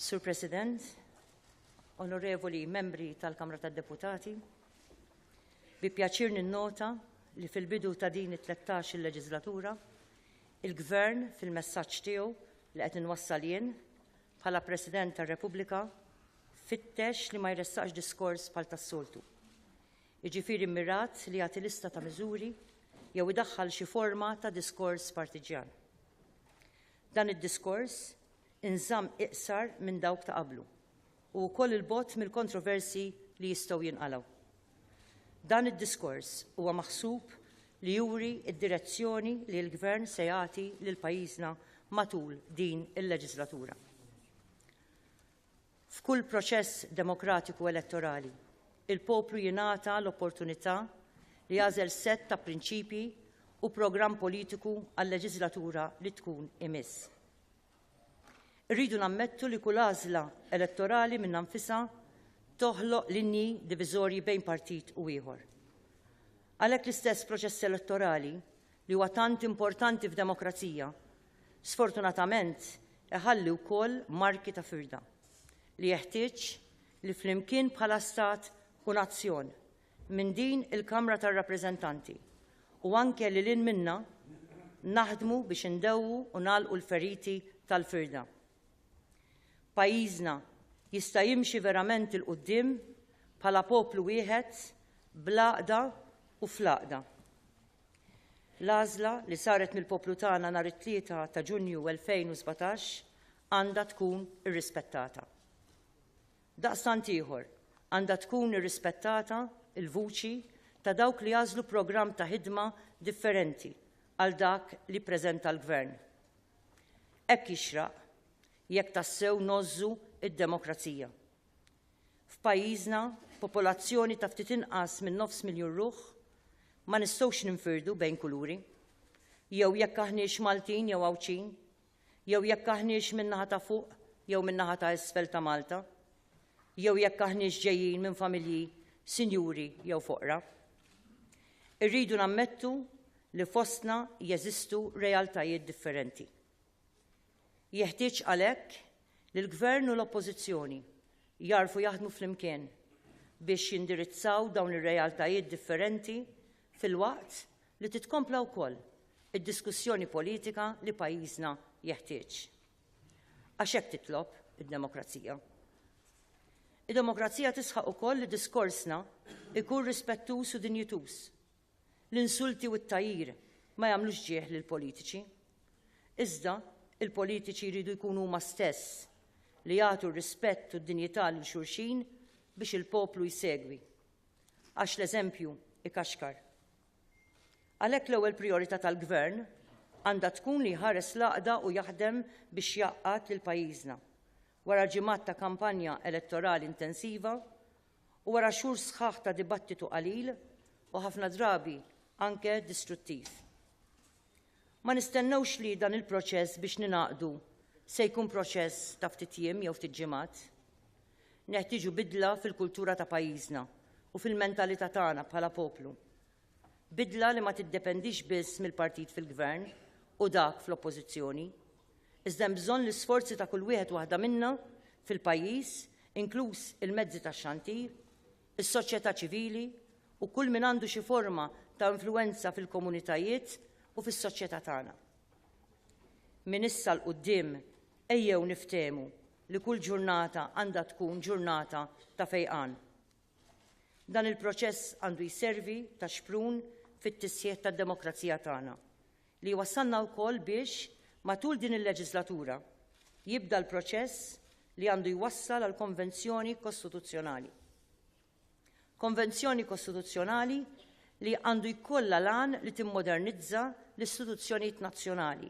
Sur President, onorevoli membri tal-Kamra tad-Deputati, bi pjaċir ninnota li fil-bidu ta' din it-13 il-leġislatura, il-Gvern fil-messaġġ tiegħu li qed inwassal jien bħala President tar-Repubblika fittex li ma jressaqx diskors bħal tas-soltu. jiġifieri mmirat li jagħti lista ta' miżuri jew idaħħal xi forma ta' diskors partiġġjan. Dan id-diskors inżamm iqsar minn dawk ta' qablu u wkoll il-bogħod mill-kontroversi li jistgħu jinqalgħu. Dan id-diskors huwa maħsub li juri d-direzzjoni li l-Gvern se jagħti lil pajjiżna matul din il-leġislatura. F'kull proċess demokratiku elettorali, il-poplu jingħata l-opportunità li jagħżel sett ta' prinċipji u programm politiku għal-leġiżlatura li tkun imiss. Irridu nammettu li kull għażla elettorali minn nfisha toħloq linji diviżorji bejn partit u ieħor. Għalhekk l-istess proċess elettorali li huwa tant importanti f'demokrazija, sfortunatament iħalli wkoll marki ta' firda li jeħtieġ li flimkien bħala stat u nazzjon minn din il-Kamra tar-Rappreżentanti u anke lil hinn minnha naħdmu biex indewwu u nagħlqu l-feriti tal-firda. Pajjiżna jista' jimxi verament 'il quddiem bħala poplu wieħed, bl-għaqda u fl-għaqda. L-għażla li saret mill-poplu tagħna nhar it-Tlieta ta' Ġunju 2017 għandha tkun irrispettata. Daqstant ieħor, għandha tkun irrispettata l-vuċi ta' dawk li għażlu programm ta' ħidma differenti għal dak li ppreżenta l-Gvern. Hekk jixraq jekk tassew ngħożżu d-demokrazija. F'pajjiżna, popolazzjoni ta' ftit inqas minn nofs miljun ruħ, ma nistgħux ninfirdu bejn kuluri. Jew jekk aħniex Maltin jew Għawdxin, jew jekk aħniex min-naħa ta' fuq jew min-naħa ta' isfel ta' Malta, jew jekk aħniex ġejjin minn familji sinjuri jew foqra. Irridu nammettu li fostna jeżistu realtajiet differenti. Jeħtieġ għalhekk li l-Gvern u l-Oppożizzjoni jagħrfu jaħdmu flimkien biex jindirizzaw dawn ir-realtajiet differenti filwaqt li titkompla wkoll id-diskussjoni politika li pajjiżna jeħtieġ. Għax hekk titlob id-demokrazija. Id-demokrazija tisħaq ukoll li diskorsna ikun rispettuż u dinjituż L-insulti u t-tagħjir ma jagħmlux ġieħ lill-politiċi. Iżda, il-politiċi jridu jkunu huma stess li jagħtu r-rispett u d-dinjità lil xulxin biex il-poplu jsegwi. Għax l-eżempju ikaxkar. Għalhekk l-ewwel prijorità tal-Gvern għandha tkun li jħares l-għaqda u jaħdem biex jgħaqqad lil pajjiżna. Wara ġimgħat ta' kampanja elettorali intensiva, u wara xhur sħaħ ta' dibattitu qalil u ħafna drabi anke distruttiv. Ma nistennewx li dan il-proċess biex ninaqdu se jkun proċess ta' ftit jiem jew ftit ġimgħat. Neħtieġu bidla fil-kultura ta' pajjiżna u fil-mentalità tagħna bħala poplu. Bidla li ma tiddependix biss mill-partit fil-Gvern u dak fl-Oppożizzjoni. Iżda hemm bżonn l-isforzi ta' kull wieħed waħda minna fil-pajjiż, inkluż il-mezzi tax-xandir, is-soċjetà ċivili u kull min għandu xi forma ta' influwenza fil-komunitajiet u fis-soċjetà tagħna. Minn issa 'l quddiem ejjew niftehmu li kull ġurnata għandha tkun ġurnata ta' fejqan. Dan il-proċess għandu jservi ta' xprun fit-tisħiħ tad-demokrazija tagħna, li jwassalna wkoll biex, matul din il-leġislatura, jibda l-proċess li għandu jwassal għal konvenzjoni kostituzzjonali. Konvenzjoni kostituzzjonali li għandu jkollha l-għan li timmodernizza l-istituzzjonijiet nazzjonali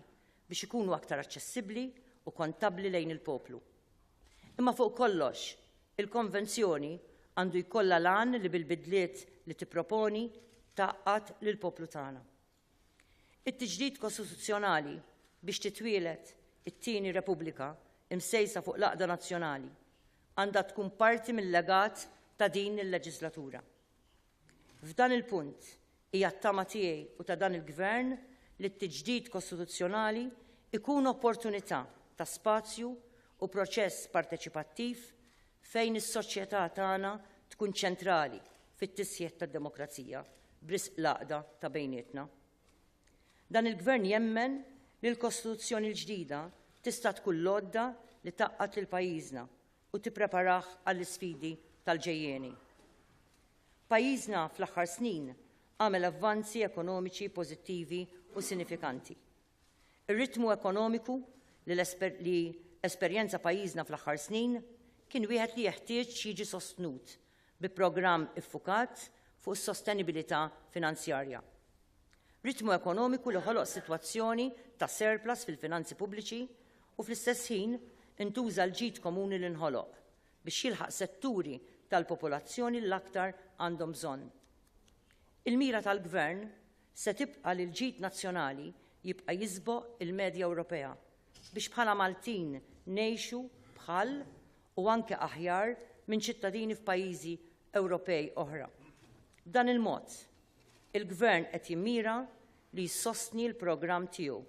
biex ikunu aktar aċċessibbli u kontabbli lejn il-poplu. Imma fuq kollox, Il-Konvenzjoni għandu jkollha l-għan li bil-bidliet li tipproponi tgħaqqad lill-poplu tagħna. It-tiġdid kostituzzjonali biex titwieled it-tieni Repubblika imsejsa fuq l-għaqda nazzjonali għandha tkun parti mil-legat ta' din il-leġislatura. F'dan il-punt, hija t-tama tiegħi u ta' dan il-Gvern li t-tiġdid kostituzzjonali jkun opportunità ta' spazju u proċess parteċipattiv fejn is-soċjetà tagħna tkun ċentrali fit-tisħiħ tad-demokrazija b'risq l-għaqda ta' bejnietna. Dan il-Gvern jemmen li l-Kostituzzjoni l-ġdida tista' tkun l-għodda li tgħaqqad lil pajjiżna u tippreparah għall-isfidi tal-ġejjieni. Pajjiżna fl-aħħar snin għamel avvanzi ekonomiċi pożittivi u sinifikanti. Ir-ritmu ekonomiku li esperjenza pajjiżna fl-aħħar snin kien wieħed li jeħtieġ jiġi sostnut bi programm iffukat fuq is-sostenibilità finanzjarja. Ritmu ekonomiku li ħoloq sitwazzjoni ta' surplus fil-finanzi pubbliċi u fl-istess ħin intuża l-ġid komuni li nħoloq biex jilħaq setturi tal-popolazzjoni li l-aktar għandhom bżonn. Il-mira tal-Gvern Se tibqa' li l-ġid nazzjonali jibqa' jiżboq il-medja Ewropea biex bħala Maltin ngħixu bħal u anke aħjar minn ċittadini f'pajjiżi Ewropej oħra. B'dan il-mod, il-Gvern qed jimmira li jsostni l-programm tiegħu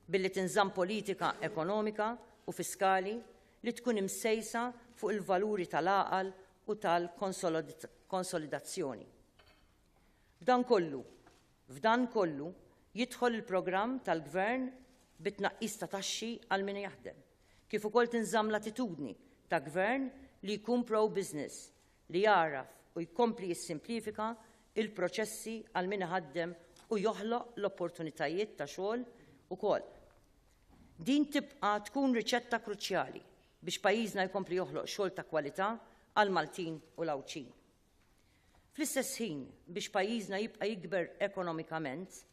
billi tinżamm politika ekonomika u fiskali li tkun imsejsa fuq il-valuri tal-għaqal u tal-konsolidazzjoni. F'dan kollu, f'dan kollu jidħol il-programm tal-Gvern bit-tnaqqis ta' taxxi għal min jaħdem, kif ukoll tinżamm l-attitudni ta' Gvern li jkun pro-business, li jagħraf u jkompli jissimplifika l-proċessi għal min iħaddem u joħloq l-opportunitajiet ta' xogħol ukoll. Din tibqa' tkun riċetta kruċjali biex pajjiżna jkompli joħloq xogħol ta' kwalità għall-Maltin u l-Għawdxin. Fl-istess ħin, biex pajjiżna jibqa' jikber ekonomikament,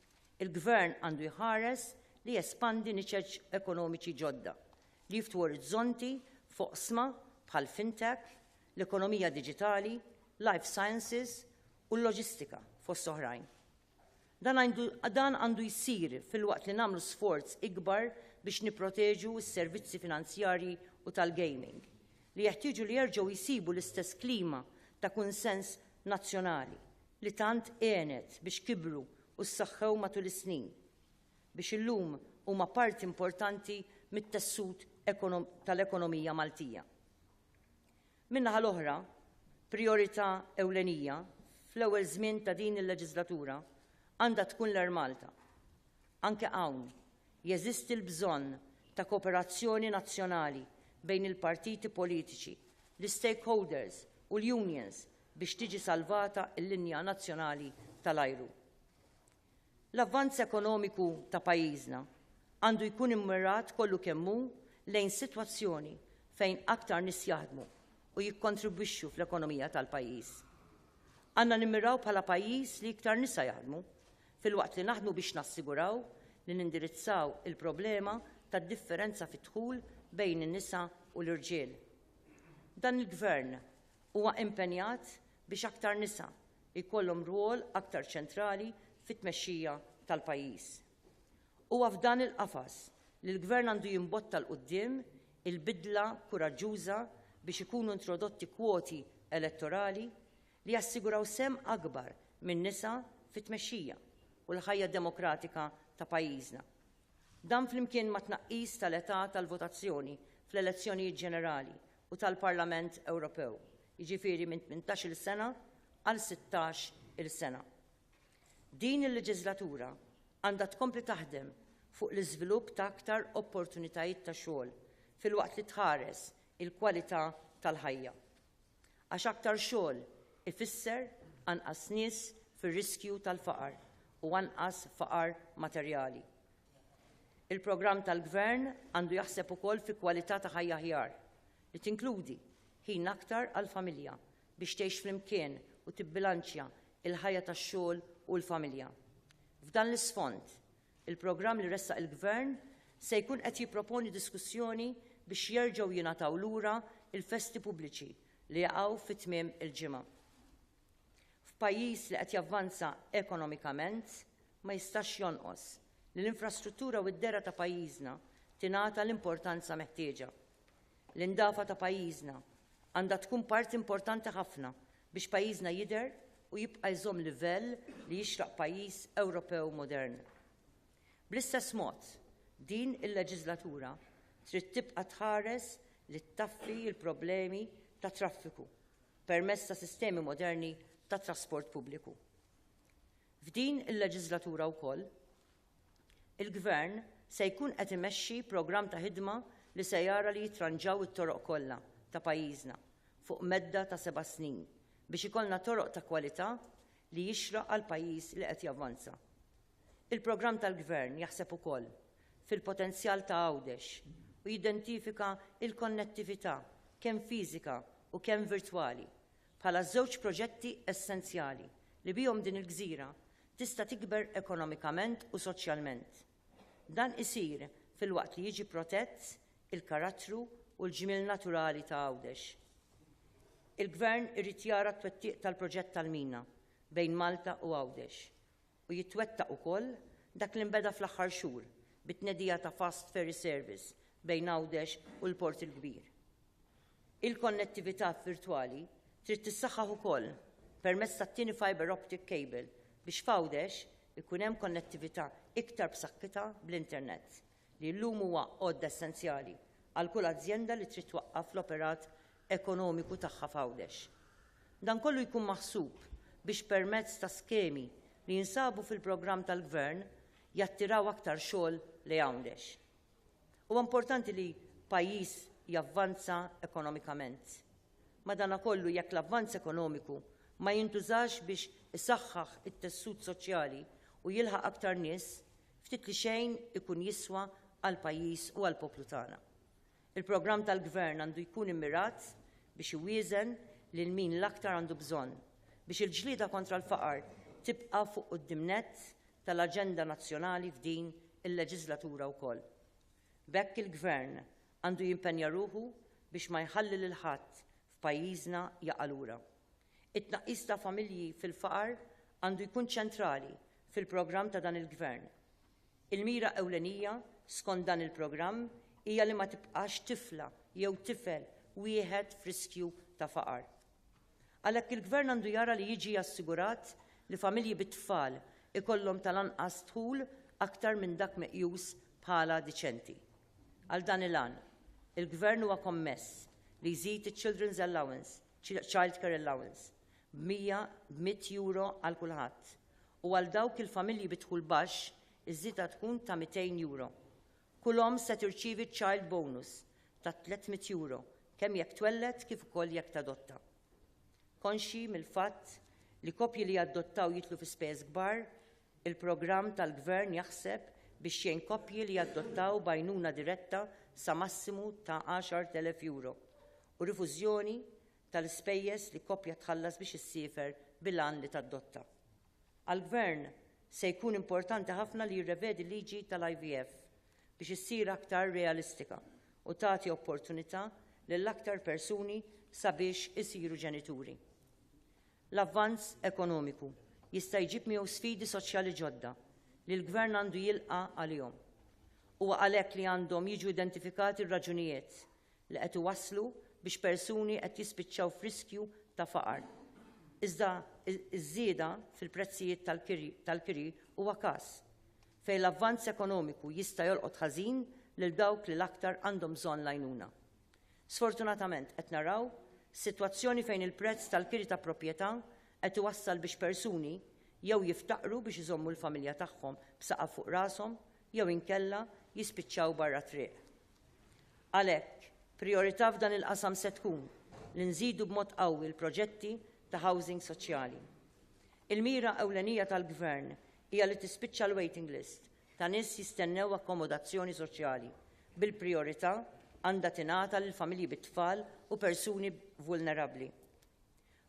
il-Gvern għandu jħares li jespandi niċeċ ekonomiċi ġodda li jiftu orizzonti f'oqsma bħal fintech, l-ekonomija diġitali, life sciences u l-loġistika fost oħrajn. Dan għandu jsir filwaqt li nagħmlu sforz ikbar biex nipproteġu s-servizzi finanzjarji u tal-gaming, li jeħtieġu li jerġgħu jsibu l-istess klima ta' kunsens nazzjonali li tant għenet biex kibru u ssaħħew matul is-snin biex illum huma parti importanti mit-tessut tal-ekonomija Maltija. Min-naħa l-oħra, prijorità ewlenija fl-ewwel żmien ta' din il-leġiżlatura għandha tkun l-Air Malta. Anke hawn, jeżisti l-bżonn ta' kooperazzjoni nazzjonali bejn il-partiti politiċi, l-istakeholders u l-unions biex tiġi salvata l-linja nazzjonali tal-ajru. L-avvanz ekonomiku ta' pajjiżna għandu jkun immirat kollu kemm hu lejn sitwazzjoni fejn aktar nies jaħdmu u jikkontribwixxu fl-ekonomija tal-pajjiż. Għandna nimmiraw bħala pajjiż li iktar nisa jaħdmu, filwaqt li naħdmu biex nassiguraw li nindirizzaw il-problema tad-differenza fid-dħul bejn in-nisa u l-irġiel. Dan il-Gvern huwa impenjat biex aktar nisa jkollhom rwol aktar ċentrali fit-tmexxija tal-pajjiż. Huwa f'dan il-qafas li l-Gvern għandu jimbotta 'l quddiem il-bidla kuraġġuża biex ikunu introdotti kwoti elettorali li jassiguraw sehem akbar min-nisa fit-tmexxija u l-ħajja demokratika ta' pajjiżna. Dan flimkien mat-tnaqqis tal-età tal-votazzjoni fl-elezzjonijiet ġenerali u tal-Parlament Ewropew, jiġifieri minn 18-il sena għal 16-il sena. Din il-leġiżlatura għandha tkompli taħdem fuq l-iżvilupp ta' aktar opportunitajiet ta' xogħol filwaqt li tħares il-kwalità tal-ħajja. Għax aktar xogħol ifisser anqas nies fir-riskju tal-faqar u anqas faqar materjali, Il-programm tal-Gvern għandu jaħseb ukoll fi kwalità ta' ħajja aħjar, li tinkludi ħin aktar għall-familja biex tgħix flimkien u tibbilanċja l-ħajja tax-xogħol u l-familja. F'dan l-isfond, il-programm li ressaq il-Gvern se jkun qed jipproponi diskussjoni biex jerġgħu jingħataw lura l-festi pubbliċi li jaqgħu fi tmiem il-ġimgħa. F'pajjiż li qed javvanza ekonomikament, ma jistax jonqos li l-infrastruttura u d-dehra ta' pajjiżna tingħata l-importanza meħtieġa. L-indafa ta' pajjiżna għandha tkun parti importanti ħafna biex pajjiżna jidher u jibqa' jżomm livell li jixraq pajjiż Ewropew modern. Bl-istess mod, din il-leġiżlatura trid tibqa' tħares li ttaffi l-problemi tat-traffiku. permezz ta' sistemi moderni ta' trasport pubbliku. F'din il-leġiżlatura wkoll, il-Gvern se jkun qed imexxi programm ta' ħidma li se jara li jitranġaw it-toroq kollha ta' pajjiżna fuq medda ta' seba' snin biex ikollna toroq ta' kwalità li jixraq għal pajjiż li qed javvanza. Il-programm tal-Gvern jaħseb ukoll fil-potenzjal ta' Għawdex u jidentifika l-konnettività, kemm fiżika u kemm virtwali, bħala żewġ proġetti essenzjali li bihom din il-gżira tista' tikber ekonomikament u soċjalment. Dan isir filwaqt li jiġi protett il-karattru u l-ġmiel naturali ta' Għawdex. Il-Gvern irid jara t-twettiq tal-proġett tal-mina bejn Malta u Għawdex u jitwettaq ukoll dak li nbeda fl-aħħar xhur bit-tnedija ta' fast ferry service bejn Għawdex u l-Port il-Kbir. Il-konnettività virtwali trid tissaħħaħ ukoll permezz tat-tieni fibre optic cable biex f'Għawdex ikun hemm konnettività iktar b'saħħitha bl-internet li llum huwa għodda essenzjali għal kull azjenda li trid twaqqaf l-operat ekonomiku tagħha f'Għawdex. Dan kollu jkun maħsub biex permezz ta' skemi li jinsabu fil-programm tal-Gvern jattiraw aktar xogħol lejn Għawdex. Huwa importanti li pajjiż javvanza ekonomikament. Madankollu jekk l-avvanz ekonomiku ma jintużax biex isaħħaħ it-tessut soċjali u jilħaq aktar nies, ftit li xejn ikun jiswa għall-pajjiż u għall-poplu tagħna. Il-programm tal-Gvern għandu jkun immirat biex iwieżen lil min l-aktar għandu bżonn biex il-ġlieda kontra l-faqar tibqa' fuq quddiem nett tal-aġenda nazzjonali f'din il-leġiżlatura wkoll. B'hekk il-Gvern għandu jimpenja ruħu biex ma jħalli lil ħadd f'pajjiżna jaqa' lura. It-tnaqqis ta' familji fil-faqar għandu jkun ċentrali fil-programm ta' dan il-Gvern. Il-mira ewlenija skont dan il-programm hija li ma tibqax tifla jew tifel wieħed f'riskju ta' faqar. Għalhekk il-Gvern għandu jara li jiġi assigurat li familji bi tfal ikollhom tal-anqas dħul aktar minn dak meqjus bħala diċenti. Għal dan il-għan, il-Gvern huwa kommess li jżid iċ-Children's Allowance Childcare Allowance b' 100 b' 100 euro għal kulħadd u għal dawk il-familji bi dħul baxx iż-żieda tkun ta' 200 euro. Kull omm se tirċievi ċ-Child Bonus ta' 300 euro kemm jekk twelled kif ukoll jekk tadotta. Konxji mill-fatt li koppji li jadottaw jidħlu fi spejjeż kbar, il-programm tal-Gvern jaħseb biex jgħin koppji li jadottaw b'għajnuna diretta sa massimu ta' 10,000 euro u rifużjoni tal-ispejjeż li koppja tħallas biex issiefer bil-għan li tadotta. Għall-Gvern, se jkun importanti ħafna li jirrevedi l-liġi tal-IVF biex issir aktar realistika u tagħti opportunità lil aktar persuni sabiex isiru ġenituri. L-avvanz ekonomiku jista' jġib miegħu sfidi soċjali ġodda li l-Gvern għandu jilqa' għalihom. Huwa għalhekk li għandhom jiġu identifikati r-raġunijiet li qed iwasslu biex persuni qed jispiċċaw f'riskju ta' faqar. Iżda ż-żieda fil-prezzijiet tal-kiri huwa każ fejn l-avvanz ekonomiku jista' jolqot ħażin lil dawk li l-aktar għandhom bżonn l-għajnuna. Sfortunatament qed naraw sitwazzjoni fejn il-prezz tal-kiri ta' proprjetà qed iwassal biex persuni jew jiftaqru biex iżommu l-familja tagħhom b'saqaf fuq rashom jew inkella jispiċċaw barra t-triq. Għalhekk, prijorità f'dan il-qasam se tkun li nżidu b'mod qawwi l-proġetti ta' housing soċjali. Il-mira ewlenija tal-Gvern hija li tispiċċa l-waiting list ta' nies jistennew akkomodazzjoni soċjali, bil-prijorità għandha tingħata lil familji bit-tfal u persuni vulnerabbli.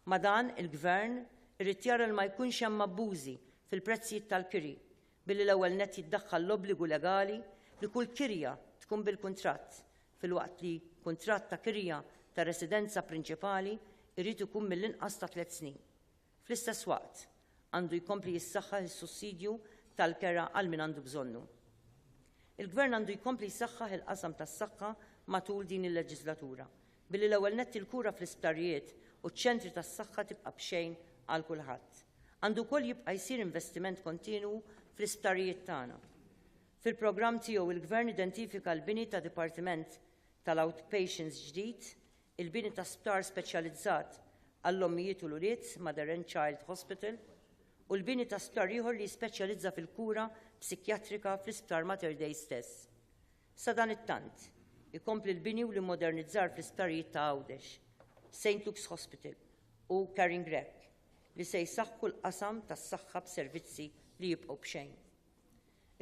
Ma' dan, il-Gvern irid jara li ma jkunx hemm abbużi fil-prezzijiet tal-kiri Billi l-ewwel nett jiddaħħal l-obbligu legali li kull kirja tkun bil-kuntratt, filwaqt li kuntratt ta' kirja ta' residenza prinċipali jrid ikun mill-inqas ta' tliet snin. Fl-istess waqt, għandu jkompli jissaħħaħ is-sussidju tal-kera għal min għandu bżonnu. Il-Gvern għandu jkompli jsaħħaħ il-qasam tas-saħħa matul din il-leġislatura, Billi l-ewwel nett il-kura fl-isptarijiet u ċ-ċentri tas-saħħa tibqa' b'xejn għal kulħadd. Għandu wkoll jibqa' jsir investiment kontinwu fl-isptarijiet tagħna. Fil-programm tiegħu il-Gvern identifika l-bini ta' dipartiment tal-outpatients ġdid, il-bini ta' sptar speċjalizzat għall-ommijiet u l-ulied, Mother and Child Hospital, u l-bini ta' sptar ieħor li jispeċjalizza fil-kura psikjatrika fl-Isptar Mater Dei stess. Sadanittant, ikompli l-bini u l-immodernizzar fl-isptarijiet ta' Għawdex, Saint Luke's Hospital u Caring Rep li se jsaħħu l-qasam tas-saħħa b'servizzi li jibqgħu b'xejn.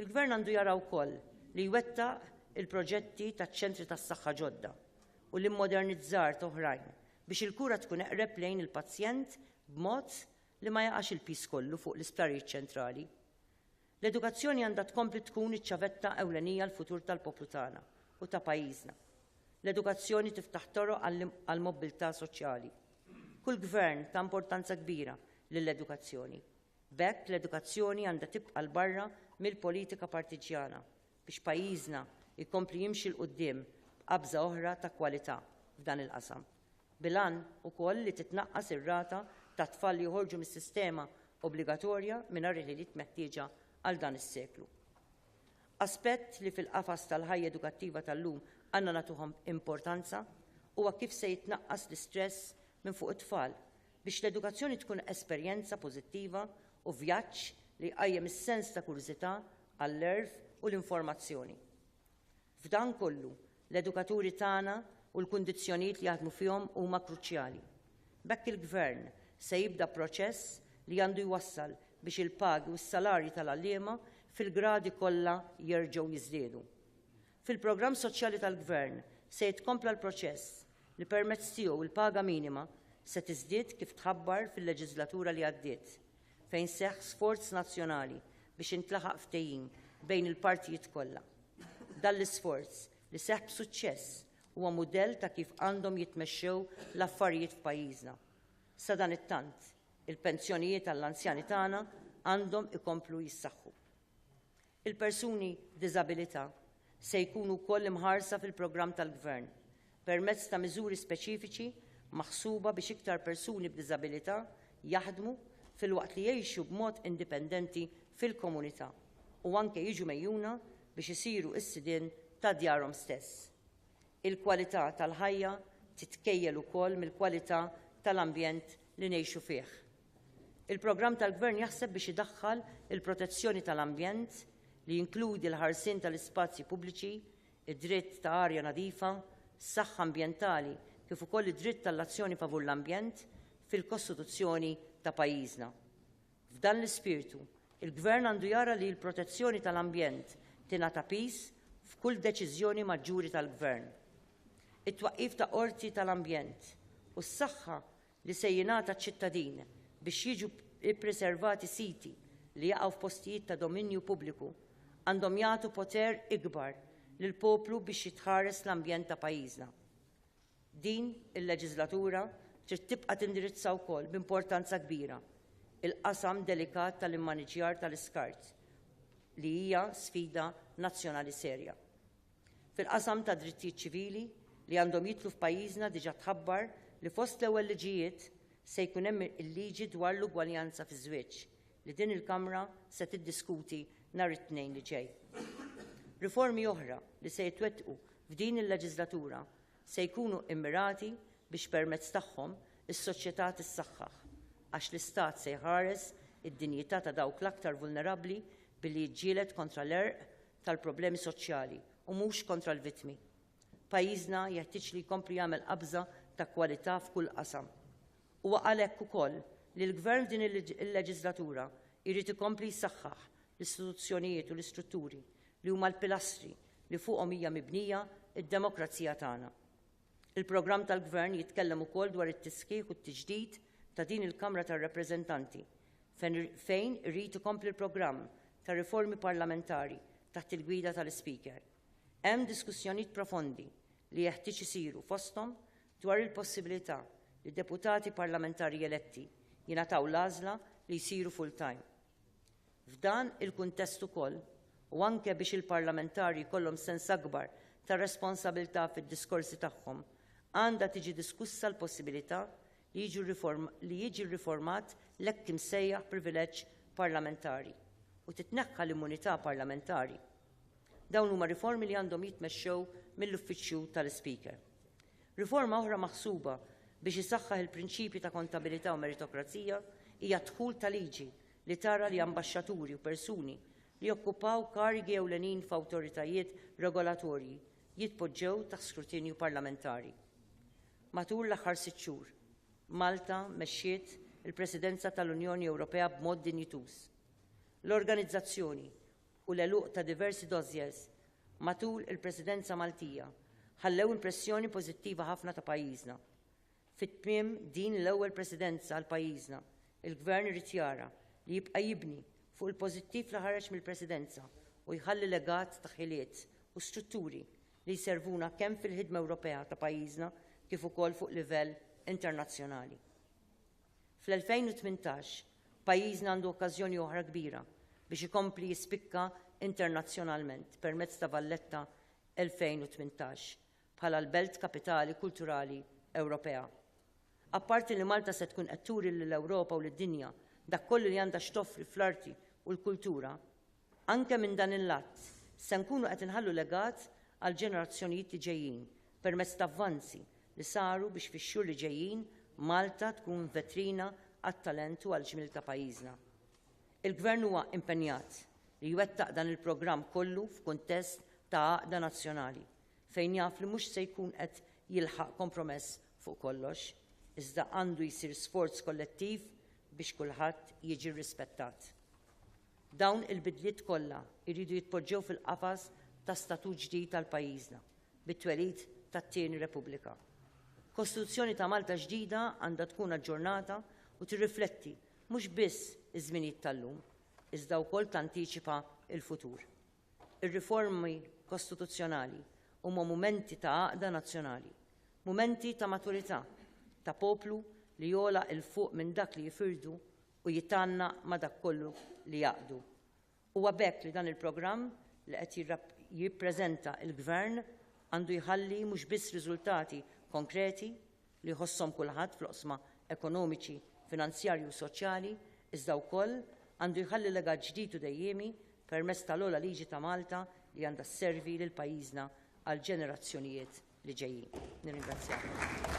Il-Gvern għandu jara wkoll li jwettaq il-proġetti taċ-ċentri tas-saħħa ġodda u l-immodernizzar t'oħrajn biex il-kura tkun eqreb lejn il-pazjent b'mod li ma jaqax il-piż kollu fuq l-isptarijiet ċentrali. L-edukazzjoni għandha tkompli tkun iċ-ċavetta ewlenija għall-futur tal-poplu tagħna u ta' pajjiżna. L-edukazzjoni tiftaħ toroq għall-mobbiltà soċjali. Kull gvern ta importanza kbira lill-edukazzjoni. B'hekk l-edukazzjoni għandha tibqa' 'l barra mill-politika partiġġjana biex pajjiżna jkompli jimxi 'l quddiem b'qabża oħra ta' kwalità f'dan il-qasam. bil-għan ukoll li titnaqqas ir-rata ta' tfal li joħorġu mis-sistema obbligatorja mingħajr il-ħiliet meħtieġa għal dan is-seklu. Aspett li fil-qafas tal-ħajja edukattiva tal-lum għandna nagħtuh importanza huwa kif se jitnaqqas l-istress minn fuq it-tfal biex l-edukazzjoni tkun esperjenza pożittiva u vjaġġ li jqajjem is-sens ta' kurżità għall-għerf u l-informazzjoni. F'dan kollu, l-edukaturi tagħna u l-kundizzjonijiet li jaħdmu fihom huma kruċjali. B'hekk il-Gvern se jibda proċess li għandu jwassal biex il-pagi u s-salarji tal-għalliema fil-gradi kollha jerġgħu jiżdiedu. Fil-programm soċjali tal-Gvern se jitkompla l-proċess li permezz tiegħu l-paga minima se tiżdied kif tħabbar fil-leġiżlatura li għaddiet fejn seħħ sforz nazzjonali biex intlaħaq ftehim bejn il-partijiet kollha. Dan l-isforz, li seħħ b'suċċess, huwa mudell ta' kif għandhom jitmexxew l-affarijiet f'pajjiżna. Sadanittant, il-pensjonijiet għall-anzjani tagħna għandhom ikomplu jissaħħu. Il-persuni b'diżabilità se jkunu wkoll imħarsa fil-programm tal-Gvern permezz ta' miżuri speċifiċi maħsuba biex iktar persuni b'diżabilità jaħdmu filwaqt li jgħixu b'mod indipendenti fil-komunità u anke jiġu megħjuna biex isiru s-sidien ta' djarhom stess. Il-kwalità tal-ħajja titkejjel ukoll mill-kwalità tal-ambjent li ngħixu fih. Il-programm tal-Gvern jaħseb biex idaħħal il-protezzjoni tal-ambjent, li jinkludi l-ħarsien tal-ispazji pubbliċi, id-dritt ta' arja nadifa, saħħa ambjentali kif ukoll id-dritt għall-azzjoni favur l-ambjent fil-Kostituzzjoni ta' pajjiżna. F'dan l-ispirtu, il-Gvern għandu jara li l-protezzjoni tal-ambjent tingħata piż f'kull deċiżjoni maġġuri tal-Gvern. It-twaqqif ta' qorti tal-ambjent u s-saħħa li se jingħata ċ-ċittadin biex jiġu ppreservati siti li jaqgħu f'postijiet ta' dominju pubbliku għandhom jagħtu poter ikbar lill-poplu biex jitħares l-ambjent ta' pajjiżna. Din il-leġiżlatura trid tibqa' tindirizza wkoll b'importanza kbira il-qasam delikat tal-immaniġġjar tal-iskart li hija sfida nazzjonali serja. Fil-qasam tad-drittijiet ċivili li għandhom jidħlu f'pajjiżna diġà tħabbar li fost l-ewwel liġijiet se jkun hemm il-liġi dwar l-ugwaljanza fiż-żwieġ li din il-Kamra se tiddiskuti nhar it-Tnejn li ġej. Riformi oħra li se jitwettqu f'din il-leġiżlatura se jkunu mmirati biex permezz tagħhom is-soċjetà tissaħħaħ għax l-Istat se jħares id-dinjità ta' dawk l-aktar vulnerabbli billi jiġġieled kontra l-għerq tal-problemi soċjali u mhux kontra l-vittmi. Pajjiżna jeħtieġ li jkompli jagħmel qabża ta' kwalità f'kull qasam. Huwa għalhekk ukoll li l-Gvern f'din il-leġiżlatura jrid ikompli jsaħħaħ l-istituzzjonijiet u l-istrutturi li huma l-pilastri li fuqhom hija mibnija d-demokrazija tagħna. Il-programm tal-Gvern jitkellem ukoll dwar it-tisħiħ u t-tiġdid ta' din il-Kamra tar-Rappreżentanti, fejn irid ikompli l-programm ta' riformi parlamentari taħt il-gwida tal-Ispeaker. Hemm diskussjonijiet profondi li jeħtieġ isiru fosthom dwar il-possibilità li deputati parlamentari eletti jingħataw l-għażla li jsiru full-time. F'dan il-kuntest ukoll, u anke biex il-parlamentari jkollhom sens akbar ta' responsabilità fid-diskorsi tagħhom, għandha tiġi diskussa l-possibilità li li jiġi rriformat l-hekk imsejjaħ privileġġ parlamentari u titneħħa l-immunità parlamentari. Dawn huma riformi li għandhom jitmexxew mill-Uffiċċju tal-Ispeaker. Riforma oħra maħsuba biex isaħħaħ il-prinċipji ta' kontabilità u meritokrazija hija d-dħul ta' liġi li tara li ambaxxaturi u persuni li jokkupaw karigi ewlenin f'awtoritajiet regolatorji jitpoġġew taħt skrutinju parlamentari. Matul l-aħħar sitt xhur, Malta mexxiet il-Presidenza tal-Unjoni Ewropea b'mod dinjituż. L-organizzazzjoni u l-għeluq ta' diversi dossiers matul il-Presidenza Maltija ħallew impressjoni pożittiva ħafna ta' pajjiżna. Fi tmiem din l-ewwel Presidenza għal pajjiżna, il-Gvern irid jara li jibqa' jibni fuq il-pożittiv li ħareġ mill-Presidenza u jħalli legat ta' ħiliet u strutturi li jservuna kemm fil-ħidma Ewropea ta' pajjiżna kif ukoll fuq livell internazzjonali. Fl-2018, pajjiżna għandu okkażjoni oħra kbira biex ikompli jispikka internazzjonalment permezz ta' Valletta 2018 bħala l-Belt Kapitali Kulturali Ewropea. Apparti li Malta se tkun qed turi lill-Ewropa u lid-dinja dak kollu li għandha x'toffri fl-arti u l-kultura, anke minn dan il-lat se nkunu qed inħallu legat għall-ġenerazzjonijiet li ġejjin permezz t'avvanzi li saru biex fix-xhur li ġejjin Malta tkun vetrina għat-talent u għall-ġmiel ta' pajjiżna. Il-Gvern huwa impenjat li jwettaq dan il-programm kollu f'kuntest ta' għaqda nazzjonali. fejn jaf li mhux se jkun qed jilħaq kompromess fuq kollox, iżda għandu jsir sforz kollettiv biex kulħadd jiġi rrispettat. Dawn il-bidliet kollha jridu jitpoġġew fil-qafas ta' statut ġdid għal pajjiżna, bit-twelid tat-tieni Repubblika. Kostituzzjoni ta' Malta ġdida għandha tkun aġġornata u tirrifletti mhux biss iż-żminijiet tal-lum, iżda wkoll tantiċipa l-futur. Ir-riformi kostituzzjonali huma mumenti ta' għaqda nazzjonali, mumenti ta' maturità, ta' poplu li jogħla 'il fuq minn dak li jifirdu u jitgħannaq ma' dak kollu li jgħaqqdu. Huwa b'hekk li dan il-programm li qed jippreżenta l-Gvern għandu jħalli mhux biss riżultati konkreti, li jħosshom kulħadd fl-oqsma ekonomiċi, finanzjarji u soċjali, iżda wkoll għandu jħalli legat ġdid u dejjiemi permezz tal-ogħla liġi ta' Malta li għandha sservi lil pajjiżna għall-ġenerazzjonijiet li ġejjin. Nirringrazzjakom.